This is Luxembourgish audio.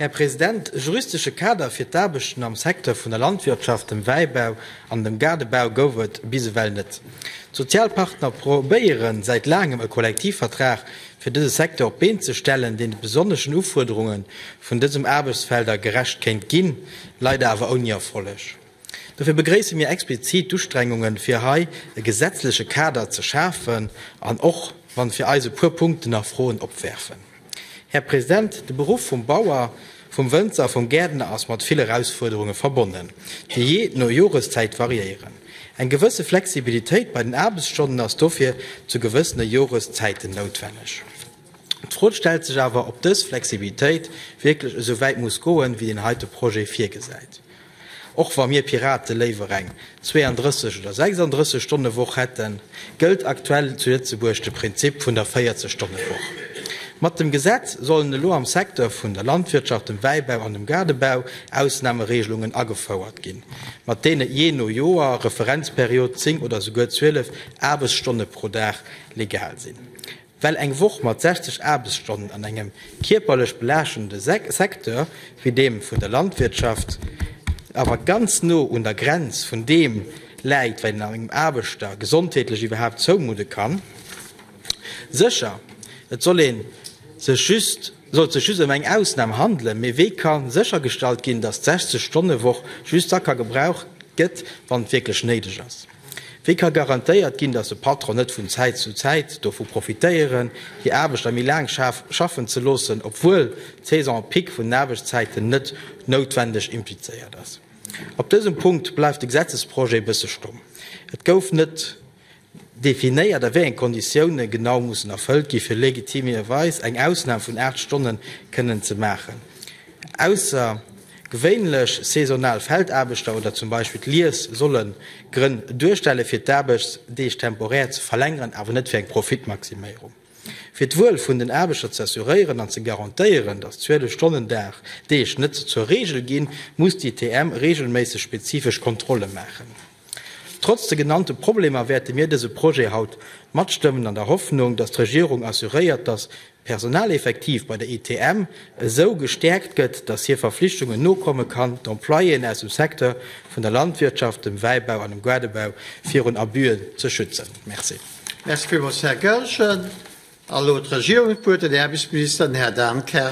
Här President, e juristesche Kader fir d'Aarbechten am Secteur vun der Landwirtschaft, dem Wäibau an dem Gaardebau gouf et bis ewell net. D'Sozialpartner probéieren säit laangem e Kollektivvertrag fir dëse Secteur op d'Been ze stellen, deen de besonneschen Ufuerderunge vun dësem Aarbechtsfelder gerecht kéint ginn, leider awer ouni Erfolleg. Dofir begréisse mir explizit d'Ustrengungen, fir hei e gesetzleche Kader ze schafen, an och wann fir eis e puer Punkten nach Froen opwerfen. Här President, de Beruff vum Bauer, vum Wënzer, vum Gäertner ass mat vill Erausfuerderunge verbonnen, déi jee no Joreszäit variéieren. Eng gewësse Flexibilitéit bei den Aarbechtsstonnen ass dofir zu gewëssene Joreszäiten noutwenneg. D'Fro stellt sech awer, ob dës Flexibilitéit wierklech esou wäit muss goen, wéi deen heite Projet virgesäit. Och wa mir Piraten léiwer eng 32 oder 36 Stonne Woch hätten, gëllt aktuell zu Lëtzebuerg de Prinzip vun der 40 Stonne Woch. Mat dem Gesetz sollen elo am Secteur vun der Landwirtschaft, dem Wäibau an dem Gaardebau Ausnahmeregelungen agefouert ginn, mat deene jee no Joer, Referenzperiod, 10 oder souguer 12 Aarbechtsstonne pro Dag legal sinn. Well eng Woch mat 60 Aarbechtsstonnen an engem kierperlech belaaschtende Secteur wéi deem vun der Landwirtschaft awer ganz no un der Grenz vun deem läit, wat een engem Aarbechter gesondheetlech iwwerhaapt zoumudde kann. Sécher, et sollt ee sech just ëm eng Ausnam handelen, mee wéi ka séchergestallt ginn, datt d'Sechzeg-Stonne-Woch just da ka gebraucht gëtt, wann et wierklech néideg ass? Wéi ka garantéiert ginn, datt e Patron net vun Zäit zu Zäit dovu profitéieren, hir Aarbechter méi laang schaffen ze loossen, obwuel d'Saison pic vun den Aarbechtszäiten net noutwendeg implizéiert ass? Op dësem Punkt bleift de Gesetzesprojet e bësse stomm. Et gouf net definéiert, a wéi enge Konditioune genau mussen erfëllt ginn, fir legitimerweis eng Ausnam vun 8 Stonne kënnen ze maachen, ausser, Gewéinlech saisonal Feldaarbechter oder zum Beispill d'Lies solle Grënn duerstelle fir d'Aarbechtsdeeg temporär ze verlängeren, awer net fir eng Profitmaximéierung. Fir d'Wuel vun den Aarbechter ze assuréieren an ze garantéieren, datt 12 Stonnen Dag Deeg net zur Reegel ginn, muss d'ITM reegelméisseg spezifesch Kontrolle maachen. Trotz de genannte Problemer wäerte mir dese Projet haut matstëmmen, an der Hoffnung, dass d'Regierung assuréiert, dass d'Personaleffektiv bei der ITM esou gestäerkt gëtt, dass hir Verflichtungen nokomme kann, d'Employéen aus dem Secteur vun der Landwirtschaft, dem Wäibau an dem Guadebau virun Abüen ze schützen. Merci. Merci villmools, Här Goergen. A lo d'Regierung huet d'Wuert, den Aarbechtsminister, den Här Dan Kersch.